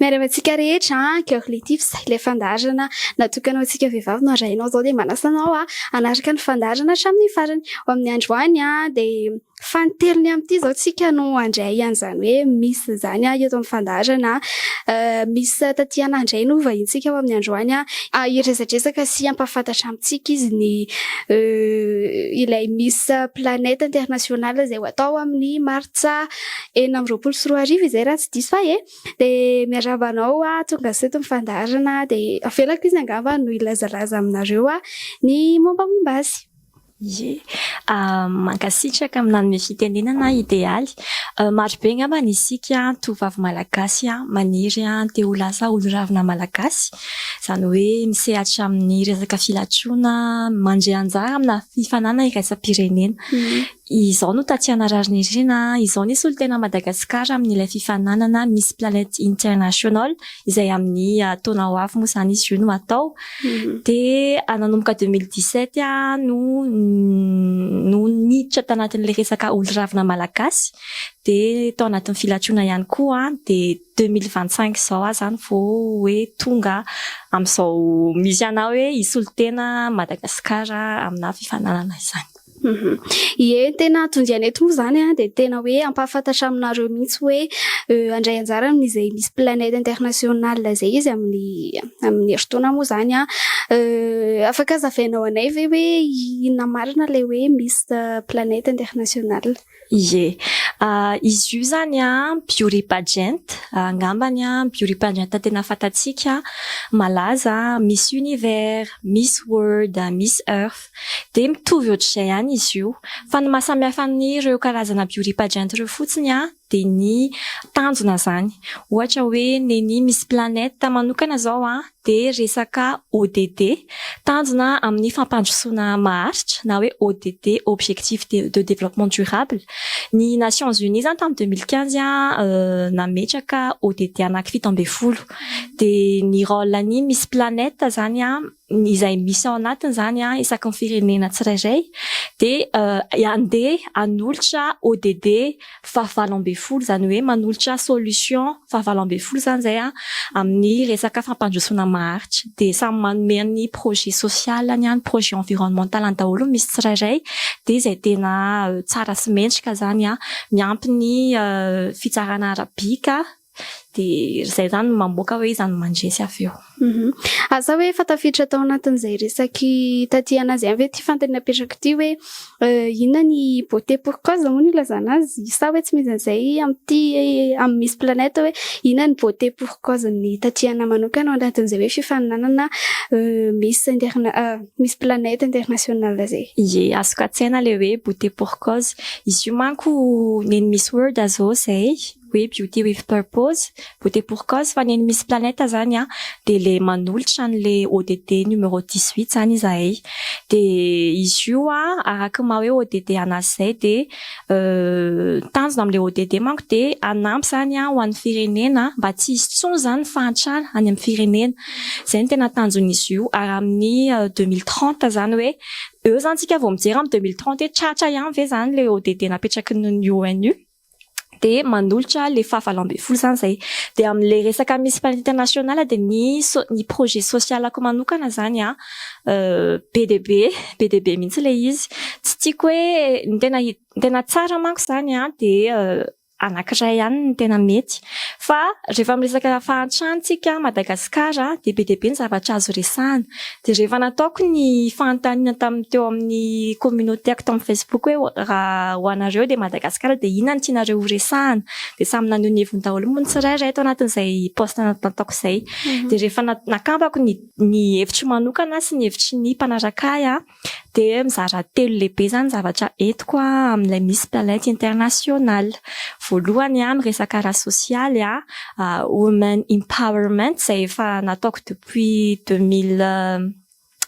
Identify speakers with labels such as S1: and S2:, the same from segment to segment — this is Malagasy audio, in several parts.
S1: Miarahaba antsika rehetra an, Cœur Létif ilay fandaharana natokana ho antsika vehivavy no arahina izao dia manasa anao an hanaraka ny fandaharana hatramin'ny farany. Ho amin'ny androany an dia fanintelony amin'ity izao tsika no handray an'izany hoe Miss izany an eto amin'ny fandaharana. Miss Tatiana indray no vahintsika ho amin'ny androany an, hiresadresaka sy hampahafantatra amintsika izy ny ilay Miss Planète Internationale izay ho atao amin'ny Martsa. enina amby roapolo sy roa arivo izay raha tsy diso ahy e, dia miarahaba anao hoa tonga sy eto ny fandaharana dia avelako izy angamba no hilazalaza aminareo hoa ny mombamomba azy. Ie,
S2: mankasitraka amin'ny nanome fitenenana aho Idealy. Maro be angambany isika tovovavy malagasy maniry te ho lasa oloravina malagasy, izany hoe misehatra amin'ny resaka filatroana, mandray anjara amina fifaninana iraisam-pirenena. Izao no Tatiana Rarinirina a! Izao ny solotenan'i Madagasikara amin'ilay fifaninanana Miss Planet International, izay amin'ny taona ho avy moa izany izy io no hatao. Dia nanomboka deux mille dix sept aho no no niditra tanatin'ilay resaka olo-ravina malagasy. Dia tao anatin'ny filatroana ihany koa aho, dia deux mille vingt cinq izao aho izany vao hoe tonga amin'izao misy anà hoe hisolo tena Madagasikara aminà fifaninanana izany. Ie,
S1: ny tena hahatonga anay eto moa izany dia tena hoe hampahafantatra aminareo mihitsy hoe handray anjara amin'izay Miss Planète International izay izy amin'ny amin'ny herintaona moa izany. Afaka hazavainao anay ve hoe inona marina ilay hoe Miss Planète International? Ie.
S2: Izy io izany an, Bioriba Gent, angambany an, Bioriba Gent tena fantatsika, malaza, Miss Univers, Miss World, Miss Earth. Dia mitovy ohatr'izay ihany izy io. Fa ny maha samy hafa an'ireo karazana Bioriba Gent ireo fotsiny an, dia ny tanjona izany. Ohatra hoe nen'i Miss Planète manokana izao an, dia resaka ODD, tanjona amin'ny fampandrosoana maharitra, na hoe ODD, Objectifs de Développement Durable. Ny Nations Unies izany tamin'ny deux mille quinze nametraka ODD anaky fito ambin'ny folo. Dia ny rôle ny Miss Planète izany izay misy ao anatiny izany isaky ny firenena tsirairay dia handeha hanolotra ODD faha valo ambin'ny folo izany hoe manolotra solution fahavalo ambin'ny folo izany izay an, amin'ny resaka fampandrosoana maharitra dia samy manome ny projet social ny projet environnemental ny daholo misy tsirairay dia izay tena tsara sy mendrika izany an, miampy ny fitsarana arabika dia izay izany no mamoaka hoe iza no mandresy avy eo. Asa hoe efa
S1: tafiditra tao anatin'izay resaky taty an'azy ihany ve ity fantany napetrako ity hoe inona ny beauté pour cause moa no ilazana azy sa hoe tsy misy an'izay amin'ity amin'ny Miss Planète hoe inona ny beauté pour cause ny Tatiana manokana ao anatin'izay hoe fifaninanana Miss interna- Miss Planète International izay? Ie, azoko an-tsaina
S2: ilay hoe beauté pour cause. Izy io manko nen'ny Miss World zao izay. hoe beauty with purpose, beauté pour cause, fa ny an'i Miss Planète zany an, dia ilay manolotra an'ilay ODD numéro dix huit zany izahay. Dia izy io an, araka ny maha hoe ODD anazy izay dia tanjona amin'ilay ODD manko dia hanampy izany an ho an'ny firenena mba tsy hisy intsony izany ny fahantrana any amin'ny firenena. Izay no tena tanjon'izy io ary amin'ny deux mille trente izany hoe eo izany isika vao mijery amin'ny deux mille trente hoe tratra ihany ve izany ilay ODD napetraky ny ONU. dia manolotra le faha valo ambin'ny folo zany zay dia amle resaka misy plan international dia ny ny projet social ko manokana zany an be dia be be dia be mihitsy le izy tsy tiako hoe ny tena ny tena tsara manko zany an dia anakiray ihany no tena mety fa rehefa miresaka fahantrana tsika madagasikara dia be dia be ny zavatra azo resahana Dia rehefa nataoko ny fanontaniana tamin'ny teo amin'ny communauté-ko tao amin'ny Facebook hoe raha ho anareo dia Madagasikara dia inona no tianareo ho resahana? Dia samy naneho ny heviny daholo moa ny tsirairay tao anatin'izay post nataoko izay. Dia rehefa nakampako ny ny hevitro manokana sy ny hevitry ny mpanaraka ahy dia mizara telo lehibe izany ny zavatra entiko amin'ilay Miss Planet International. Voalohany miresaka ara-sosialy, women empowerment izay efa nataoko depuis deux mille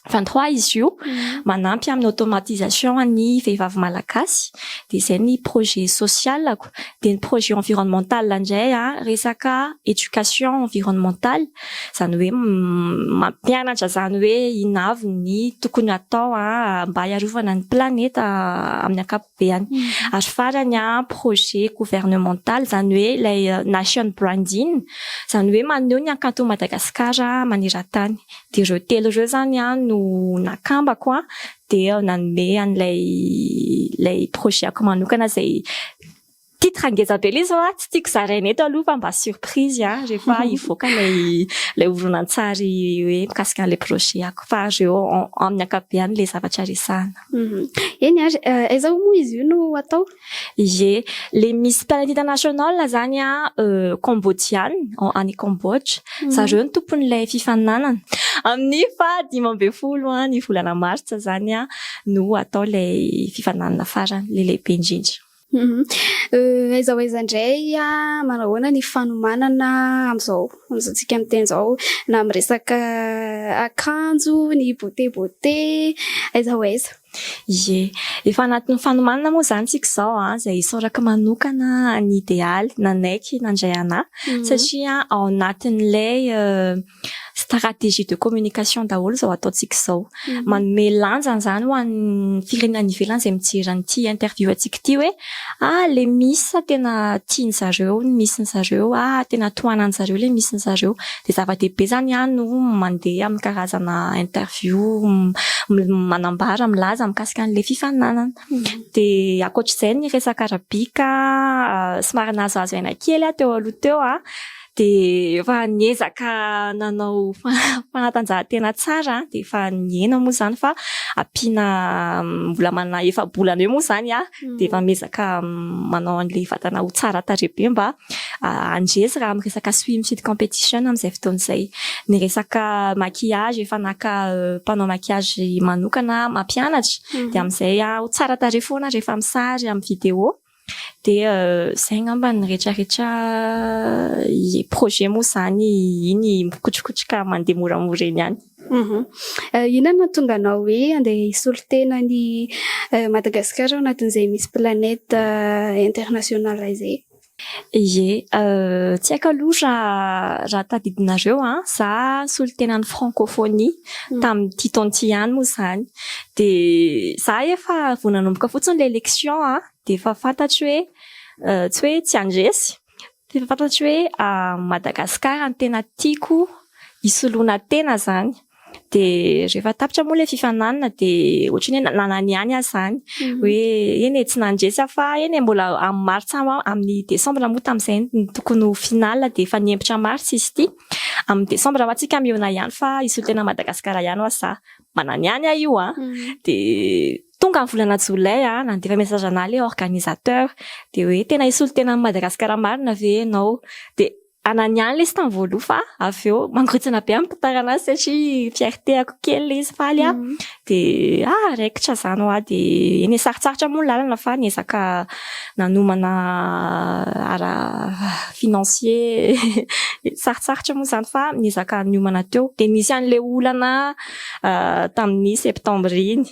S2: vingt trois izy io manampy amin'ny automatisation ny vehivavy malagasy dia izay ny projet socialako dia ny projet environnemental indray an resaka education environnemental izany hoe mampianatra izany hoe inona avy ny tokony hatao an mba hiarovana ny planeta amin'ny ankapobeny. ankapobeny. Ary farany an, projet gouvernemental, izany hoe ilay nation branding, izany hoe maneho ny hakanton'i Madagasikara maneran-tany. Dia ireo telo ireo izany no nakambako an, dia nanome an'ilay ilay projet-ko manokana izay. Titre ngeza be ilay izy fa tsy tiako zaraina eto aloha fa mba surprise an, rehefa hivoaka ilay ilay horonantsary hoe mikasika an'ilay projet-ko fa ary eo amin'ny ankapobeny ilay zavatra resahina. Eny ary,
S1: aiza hoy moa izy io no atao? Ie,
S2: ilay misy Planet International izany an, Kambodiana, any Kambodza, zareo no tompon'ilay fifaninanana. Amin'ny faha dimy ambin'ny folo ny volana martsa izany an no atao ilay fifaninanana farany, ilay lehibe indrindra. Humm
S1: aiza ho aiza indray an, manahoana ny fanomanana amin'izao fotoantsika miteny izao na amin'ny resaka akanjo, ny beauté beauté, aiza ho aiza. Ie,
S2: efa anatin'ny fanomanana moa izany tsika izao an, izay isaorako manokana an'i Idealy nanaiky nandray anah satria ao anatin'ilay Stratégie de communication daholo izao ataontsika izao. Manome lanjany izany ho an'ny firenena any ivelany izay mijery an'ity interview antsika ity hoe ah le miss tena tian'ny zareo ny miss-ny zareo, ah tena tohanan'ny zareo le miss-ny zareo. Dia zava-dehibe izany ah no mandeha amin'ny karazana interview manambara, milaza mikasika an'ilay fifaninanana. Dia ankoatr'izay ny resaka arabic somary nahazoazo aina kely aho teo aloha teo ah. dia efa niezaka nanao fanatanjahantena tsara dia efa nihena moa izany fa ampiana mbola manana efa-bolana eo moa izany aho dia efa miezaka manao an'ilay vatana ho tsara tarehy be mba handresy raha amin'ny resaka swim fit competition amin'izay fotoana izay. Ny resaka maquillage efa naka mpanao maquillage manokana aho mampianatra dia amin'izay aho tsara tarehy foana rehefa misary amin'ny vidéo. Dia izay angamba ny retraretra projet moa izany iny mikotrokotroka mandeha moramora eny ihany.
S1: Inona no nahatonga anao hoe handeha hisolo tena an'i Madagasikara ao anatin'izay Miss Planète International izay? Ie,
S2: tsy haiko aloha raha tadidinareo an, za nisolo tena ny Francophonie tamin'ity taona ity ihany moa izany. Dia za efa vao nanomboka fotsiny ilay lection an, dia efa fantatro hoe tsy hoe tsy handresy, fa efa fantatro hoe Madagasikara no tena tiako hisoloana tena izany. Dia rehefa tapitra moa ilay fifaninanana dia ohatran'ny hoe nanana ihany aho izany hoe eny e, tsy nandresy aho fa eny e, mbola amin'ny martsa, amin'ny desambra moa tamin'izay no tokony ho finale dia efa nihemotra martsa izy ity, amin'ny desambra ho'atsika mihaona ihany fa hisolo tena an'i Madagasikara ihany ho'aho za. manana ihany aho io a dia tonga ny volana jolay a nandefa message anah le organisateur dia hoe tena hisolo tena an'i madagasikara marina ve ianao dia anany ihany lesy tamin'ny voaloha fa avy eo mangotsina be amin'ny mpitarana azy satria fierteko kely le izy faly a dia ah raikitra izany hoa dia eny e sarotsarotra moa ny lalana fa niezaka nanomana ara financier sarotsarotra moa izany fa niezaka niomana teo dia nisy an'ilay olana tamin'ny septembre iny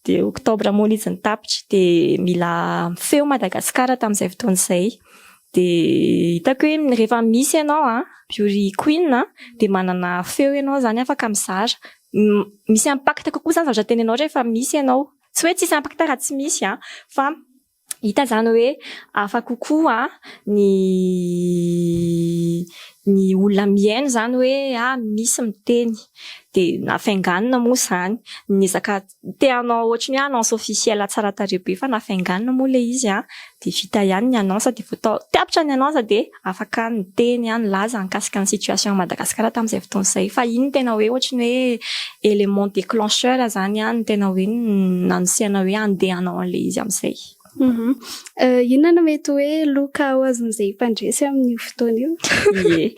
S2: dia octobre moa izy nitapitra dia mila mifehy Madagasikara tamin'izay fotoana izay dia hitako hoe rehefa misy ianao an beauty queen an dia manana feo ianao izany afaka mizara misy impact kokoa izany zavatra teneninao rehefa misy ianao Tsy hoe tsisy impacta raha tsy misy an! Fa hita izany hoe hafa kokoa ny ny olona mihaino izany hoe ah misy miteny. Dia nafainganina moa izany ny ezaka te hanao ohatry ny hoe annonce officielle tsara tarehy be fa nafainganina moa ilay izy an! Dia vita ihany ny annonce dia vao tapitra ny annonce dia afaka niteny an nilaza nikasika ny situation an'i Madagasikara tamin'izay fotoana izay fa iny no tena hoe ohatry ny hoe élément déclencheur izany an no tena hoe nanosihana hoe handeha hanao an'ilay izy amin'izay.
S1: Inona no mety hoe loka ho azon'izay mpandresy amin'io fotoana io? Ie.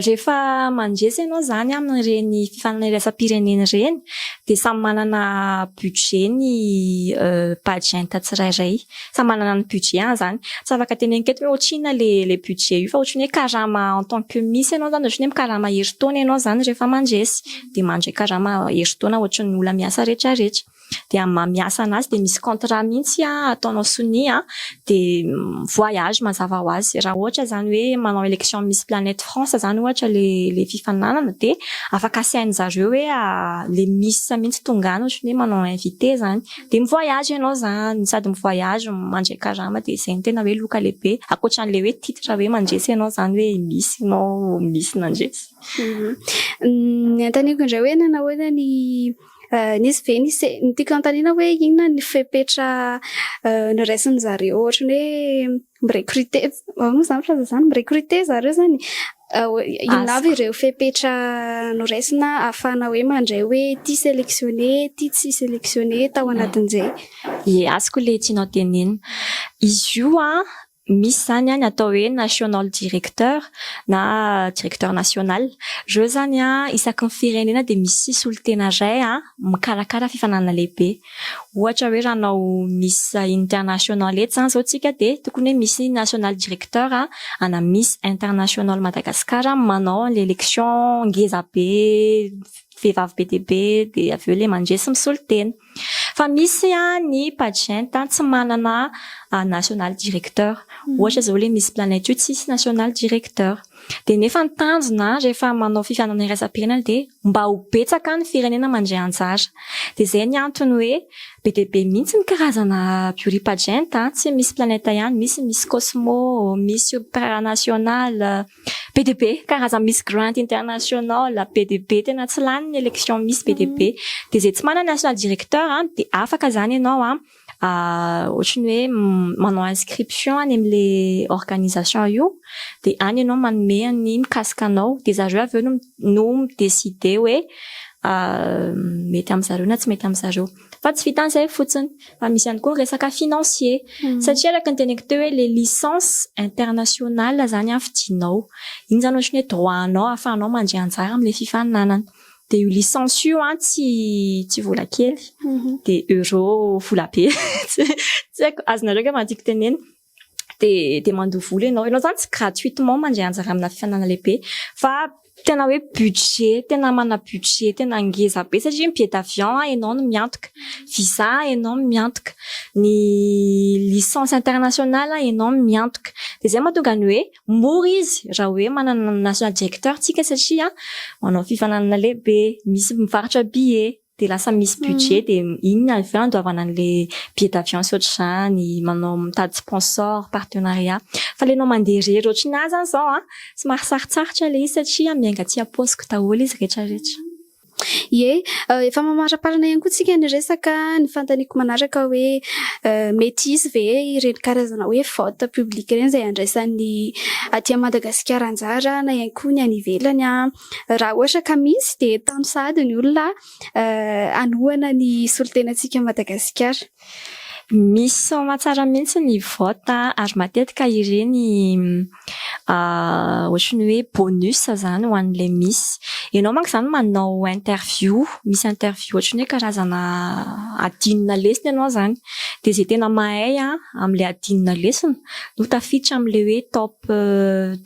S2: Rehefa mandresy ianao izany an amin'ireny fifananirasam-pirenena ireny dia samy manana budget ny Bajenta tsirairay. Samy manana ny budget-any zany. Tsy afaka teneniko eto hoe otrina le le budget io fa otriny hoe karama en tant que misy enao zany otriny hoe mikarama herintaona enao zany refa mandresy de mandray karama herintaona otriny ola miasa retra retra de am maha miasa anazy de misy contrat mintsy a ataonao sonia de voyage mazava ho azy ra ohatra zany hoe manao election miss planète France zany ohatra le le fifaninanana de afaka asainy zareo hoe le miss mintsy tonga any otriny hoe manao invite zany. Dia mi voyage ianao zany, sady mi voyage no mandray karama dia izay no tena hoe loka lehibe, ankoatran'ilay hoe titre hoe mandresy ianao zany hoe misy ianao, misy nandresy. Ny antaniko
S1: indray hoe nanahoana ny nisy ve ny se- ny tiako anontaniana hoe inona ny fepetra noraisin'zareo ohatran'ny hoe Mirekrite, ahoana moa izany filaza izany? Mirekrite zareo izany. Inona avy ireo fepetra noraisina ahafahana hoe mandray hoe ity sélectionné, ity tsy sélectionné tao anatin'izay? Ie, azoko
S2: ilay tianao tenenina. Izy io an, misy izany ny atao hoe national directeur na directeur national. Ireo izany an, isaky ny firenena dia misy solotena iray mikarakara fifaninanana lehibe. Ohatra hoe raha hanao Miss International eto izany izao tsika dia tokony hoe misy National Director ana Miss International Madagascar manao an'ilay election ngeza be vehivavy be dia be dia avy eo ilay mandresy misolo tena. Fa misy ny pageant tsy manana National Director. Ohatra izao ilay Miss Planète io tsisy National Director. Dia nefa ny tanjona rehefa manao fifianana iraisam-pirenena dia mba ho betsaka ny firenena mandray anjara. Dia izay ny antony hoe be dia be mihitsy ny karazana Buripageant, tsy Miss Planète ihany, misy Miss Cosmo, Miss Ultranational, be dia be, karazana Miss Grand International, be dia be, tena tsy lany ny élection Miss be dia be. Dia izay tsy manana National Directeur dia afaka izany ianao ohatry ny hoe manao inscription any amin'ilay organisation io dia any ianao manome ny mikasika anao dia zareo avy eo no mi-decider hoe mety amin-dry zareo na tsy mety amin-dry zareo fa tsy vitan' izay fotsiny fa misy ihany koa ny resaka financier satria araka ny teneniko teo hoe ilay licence internationale izany an fidinao iny izany ohatry ny hoe droit anao ahafahanao mandray anjara amin'ilay fifaninanana. Dia io licence io an, tsy tsy vola kely, dia euro vola be, tsy haiko, azonareo angamba ny tiako tenenina, dia dia mandoa vola ianao, ianao izany tsy gratuitement mandray anjara amina fifaninanana lehibe fa tena hoe budget, tena manana budget tena ngeza be satria ny billet d'avion ianao no miantoka, visa ianao no miantoka, ny licence internationale ianao no miantoka, dia izay no mahatonga ny hoe. mora izy raha hoe manana ny national directeur tsika satria manao fifaninanana lehibe, misy mivarotra billet dia lasa misy budget dia iny no avy eo andoavana an'ilay billet d'avion sy ohatr'izany, manao mitady sponsor, partenariat. Fa ilay anao mandeha irery ohatry ny ahy izany izao an, somary sarotsarotra ilay izy satria miainga aty am-paosiko daholo izy rehetra rehetra. Ie,
S1: efa mamariparina ihany koa tsika ny resaka, ny fanontaniako manaraka hoe mety hisy ve ireny karazana hoe vote public ireny izay handraisan'ny aty Madagasikara anjara na ihany koa ny any ivelany an. Raha ohatra ka misy dia tano sahady ny olona hanohana ny solontenantsika Madagasikara. Misy
S2: soamatsara mihitsy ny vote ary matetika ireny ohatry ny hoe bonus izany ho an'ilay miss. Ianao manko izany manao interview, misy interview ohatry ny hoe karazana adinona lesona ianao izany. Dia izay tena mahay amin'ilay adinona lesona no tafiditra amin'ilay hoe top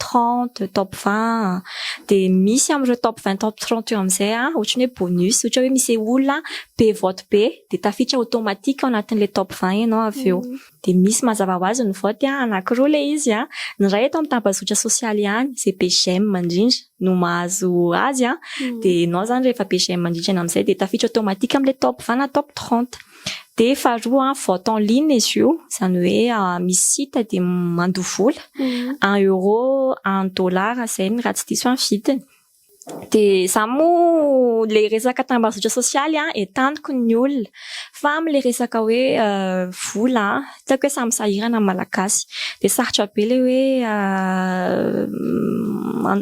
S2: trente, top vingt. Dia misy amin'ireo top vingt, top trente eo amin'izay ohatry ny hoe bonus, ohatra hoe misy olona be vote be. dia tafiditra automatique ao anatin'ilay top vingt ianao avy eo. Dia misy mazava ho azy ny vote an, anankiroa ilay izy an, ny iray eto amin'ny tambazotra sosialy ihany, izay be j'aime indrindra no mahazo azy an, dia ianao izany rehefa be j'aime indrindra amin'izay dia tafiditra automatique amin'ilay top vingt na top trente. Dia faharoa an, vote en ligne izy io, izany hoe misy site dia mandoa vola, un euro, un dollar izay ny raha tsy diso an ny vidiny. Dia izaho moa ilay resaka tambazotra sosialy entaniko ny olona fa amin'ilay resaka hoe vola tsy haiko hoe samy sahirana ny malagasy dia sarotra be ilay hoe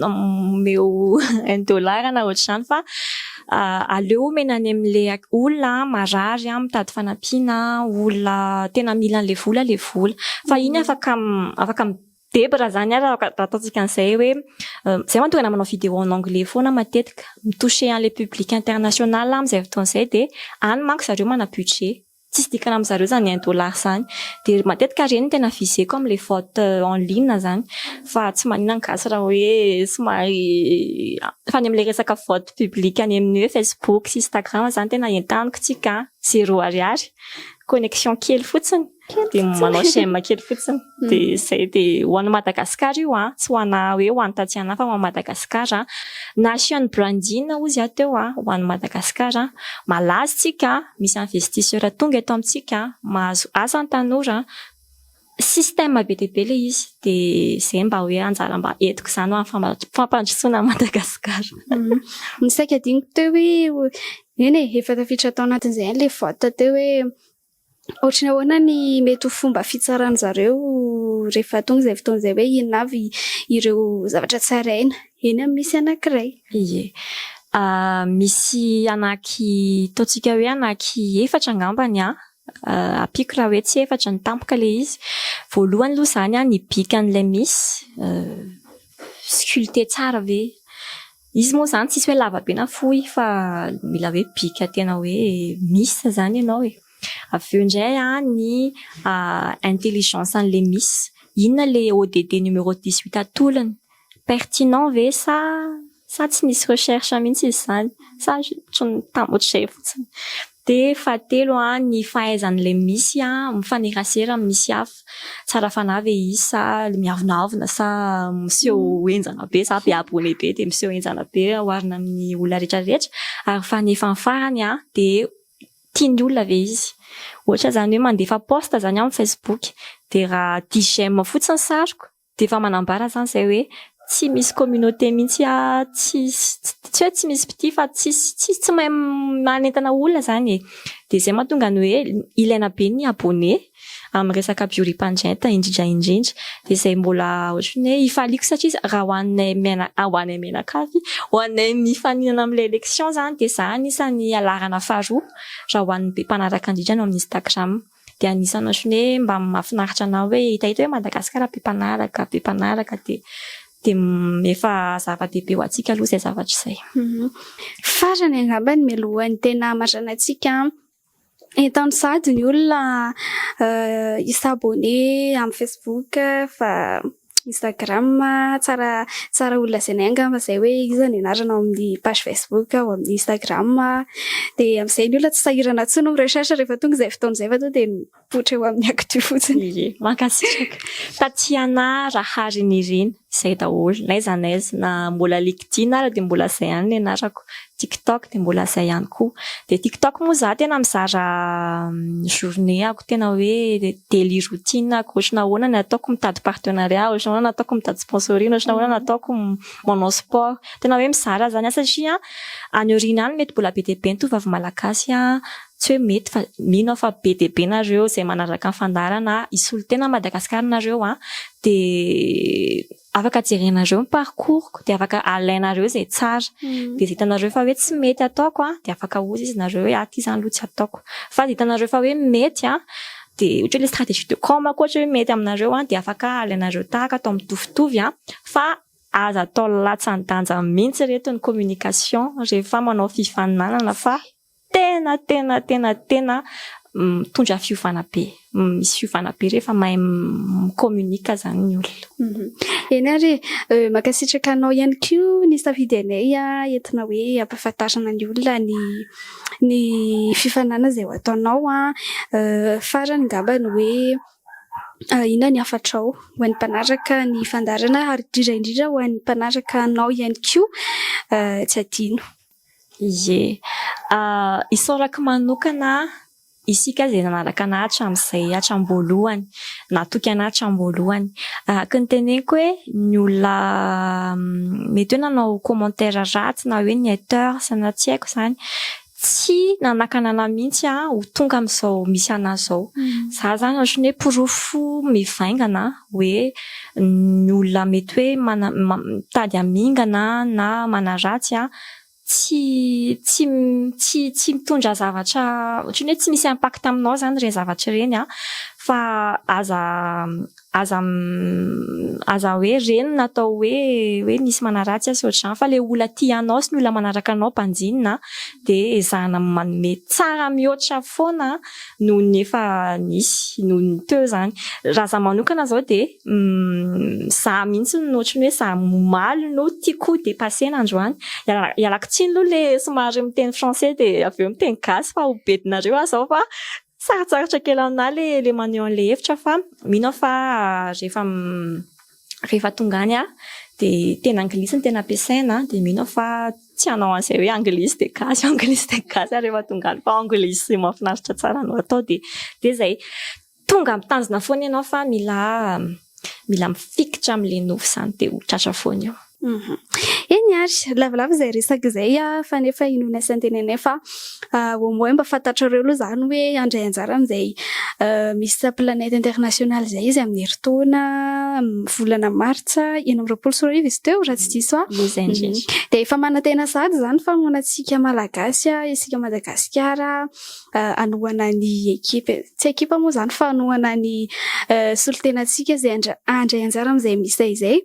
S2: omeo un dollar na ohatr'izany fa aleo omena any amin'ilay olona marary mitady fanampiana, olona tena mila an'ilay vola ilay vola fa iny afaka Deba raha zany ary raha ataontsika an'izay hoe zay manko tena manao vidéo en anglais foana matetika mi toucher an'ilay public international amin'izay fotoana izay dia any manko zareo mana budget tsisy dikany amin'izareo izany un dollar izany dia matetika ireny no tena viseko amin'ilay vente en ligne izany fa tsy manina ny gasy raha hoe somary fa any amin'ilay resaka vente public any amin'ny hoe facebook sy instagram izany tena entaniko tsika zero ariary connexion kely fotsiny dia manao j'aime kely fotsiny mm. dia zay dia ho an'i Madagascar io a tsy ho ana hoe ho any taty ana fa ho an'i Madagascar a na asian'ny brandina ozy a teo a ho an'i Madagascar a malaza tsika misy investisseur tonga eto amintsika mahazo asa ny tanora système be dia be le izy dia zay mba hoe anjara mba etiko izany ho an'ny fampandrosoana an'i Madagascar mm.
S1: misaika diniko teo hoe eny e, efa tafiditra tao anatin'izay any le vote teo hoe Ohatry ny ahoana ny mety ho fomba fitsaran-dry zareo rehefa tonga izay fotoana izay hoe inona avy ireo zavatra tsaraina eny amin'ny misy anankiray? Ie.
S2: Misy anaky, ataontsika hoe anaky efatra angamba ny ahy, ampiako raha hoe tsy efatra ny tampoka ilay izy. Voalohany aloha izany ny bikan'ilay misy, sculpter tsara ve? Izy moa zany tsisy hoe lava be na fohy fa mila hoe bika tena hoe miss zany ianao e. Avy eo indray an, ny intelligence an'ilay miss. Inona ilay ODD numéro dix huit atolony? Pertinent ve sa sa tsy nisy recherche mihitsy izy izany? Sa ohatran'ny tam- ohatr'izay fotsiny? Dia fahatelo an, ny fahaizany ilay misy an mifanerasera amin'ny misy hafa. Tsara fanahy ve izy sa le miavonavona sa miseho henjana be sa be abonné be dia miseho henjana be oharina amin'ny olona rehetra rehetra. Ary fanefany farany an dia tia ny olona ve izy. Ohatra izany hoe mandefa post izany amin'ny facebook dia raha dix j'aime fotsiny ny sariko Dia efa manambara izany izay hoe tsy misy communauté mihitsy tsy tsy hoe tsy misy mpitia fa tsisy tsisy tsy mahay manentana olona izany e! Dia izay mahatonga ny hoe ilaina be ny abonné amin'ny resaka bioripandrenta indrindra indrindra. Dia izay mbola ohatry ny hoe ifaliako satria raha ho anay miana ho anay mianakavy ho anay mifaninana amin'ilay élection izany dia izaho anisan'ny laharana faharoa raha ho an'ny be mpanaraka indrindra ao amin'ny instagram. dia anisany ohatran'ny hoe mba mahafinaritra anao hoe hitahita hoe Madagasikara be mpanaraka, be mpanaraka dia dia efa zava-dehibe ho antsika aloha izay zavatra izay. Farany
S1: angamba ny mialohan'ny tena hamaranana antsika entan'ny sady ny olona hi s'abonner amin'ny facebook fa Instagram, tsara tsara ho lazainay angamba izay hoe iza ny anarana ao amin'ny page Facebook ao amin'ny Instagram dia amin'izay ny olona tsy sahirana intsony mi recherche rehefa tonga izay fotoana izay fa tonga dia mipoitra eo amin'ny actu fotsiny. Ie, mankasitraka.
S2: Tatiana Raharinirina, izay daholo, n'aiza n'aiza, na mbola LinkedIn ary dia mbola izay ihany ny anarako, TikTok dia mbola izay ihany koa. Dia TikTok moa izaho tena mizara journée-ako tena hoe daily routine-ako, ohatrany ahoana ny ataoko mitady partenariat, ohatrany ahoana ny ataoko mitady sponsoring, ohatrany ahoana ny ataoko manao sport. Tena hoe mizara izany aho satria any aoriana any mety mbola be dia be ny tovovavy malagasy, tsy hoe mety fa mino aho fa be dia be nareo izay manaraka ny fandaharana hisolo tena an'i Madagasikara nareo dia afaka jerenareo ny parcours-ko dia afaka alainareo izay tsara dia izay hitanareo fa hoe tsy mety ataoko dia afaka ahozy izy nareo hoe aty izany aloha tsy ataoko fa izay hitanareo fa hoe mety dia ohatra hoe ilay stratégie de com ko ohatra hoe mety aminareo dia afaka alainareo tahaka atao mitovitovy fa aza atao latsa-danja mihintsy ireto ny communication rehefa manao fifaninanana fa Tena tena tena tena mitondra fiovana be. Misy fiovana be rehefa mahay mi-communique zany ny olona. Eny ary
S1: e. Mankasitraka anao ihany koa nisafidy anay entina hoe hampahafantarana ny olona ny ny fifaninanana izay ho ataonao. Farany angamba ny hoe inona ny hafatrao ho an'ny mpanaraka ny fandaharana ary indrindra indrindra ho an'ny mpanaraka anao ihany koa tsy adino. Ie.
S2: Isaorako manokana isika izay nanaraka anah hatramin'izay, hatram-boalohany, natoky anah hatram-boalohany. Araka ny teneniko hoe ny olona mety hoe nanao commentaire ratsy na hoe ny haters na tsy haiko izany, tsy nanakana anah mihitsy ho tonga amin'izao misy anah izao. Izaho izany ohatran'ny hoe porofo mivaingana. hoe ny olona mety hoe mitady hamingana na manaratsy tsy tsy tsy tsy mitondra zavatra ohatran'ny hoe tsy misy impact aminao izany ireny zavatra ireny an, fa aza aza aza hoe reny na atao hoe hoe misy manaratsy azy sy ohatr'izany fa ilay olona tia anao sy ny olona manaraka anao banjinina dia ezahina manome tsara mihoatra foana noho ny efa nisy, noho ny teo izany. Raha izaho manokana izao dia izaho mihitsy no ohatran'ny hoe izaho omaly no tiako ho depasser-na androany. Ialako tsiny aloha ilay somary miteny français dia avy eo miteny gasy fa ho bedinareo aho izao fa sarotsarotra kely aminà ilay maneho an'ilay hevitra fa mino aho fa rehefa rehefa tonga any aho dia teny anglisy no tena ampiasaina dia mino aho fa tsy hanao an'izay hoe anglisy dia gasy anglisy dia gasy ary rehefa tonga any fa anglisy mahafinaritra tsara no atao dia dia izay tonga ampitanjona foana ianao fa mila mila mifikitra amin'ilay nofy izany dia ho tratra foana eo Eny
S1: ary, lavalava izay resaka izay fa nefa inoana sy antenainay fa au moins mba fantatrareo aloha izany hoe handray anjara amin'izay Miss Planète International izay izy amin'ny herintaona amin'ny volana martsa enina amby roapolo sy roa arivo izy teo raha tsy diso aho. Dia efa manantena sahady izany fa ahoana antsika Malagasy, isika Madagasikara hanohana ny ekipa, tsy ekipa moa izany fa hanohana ny solontenantsika izay handray anjara amin'izay Miss izay.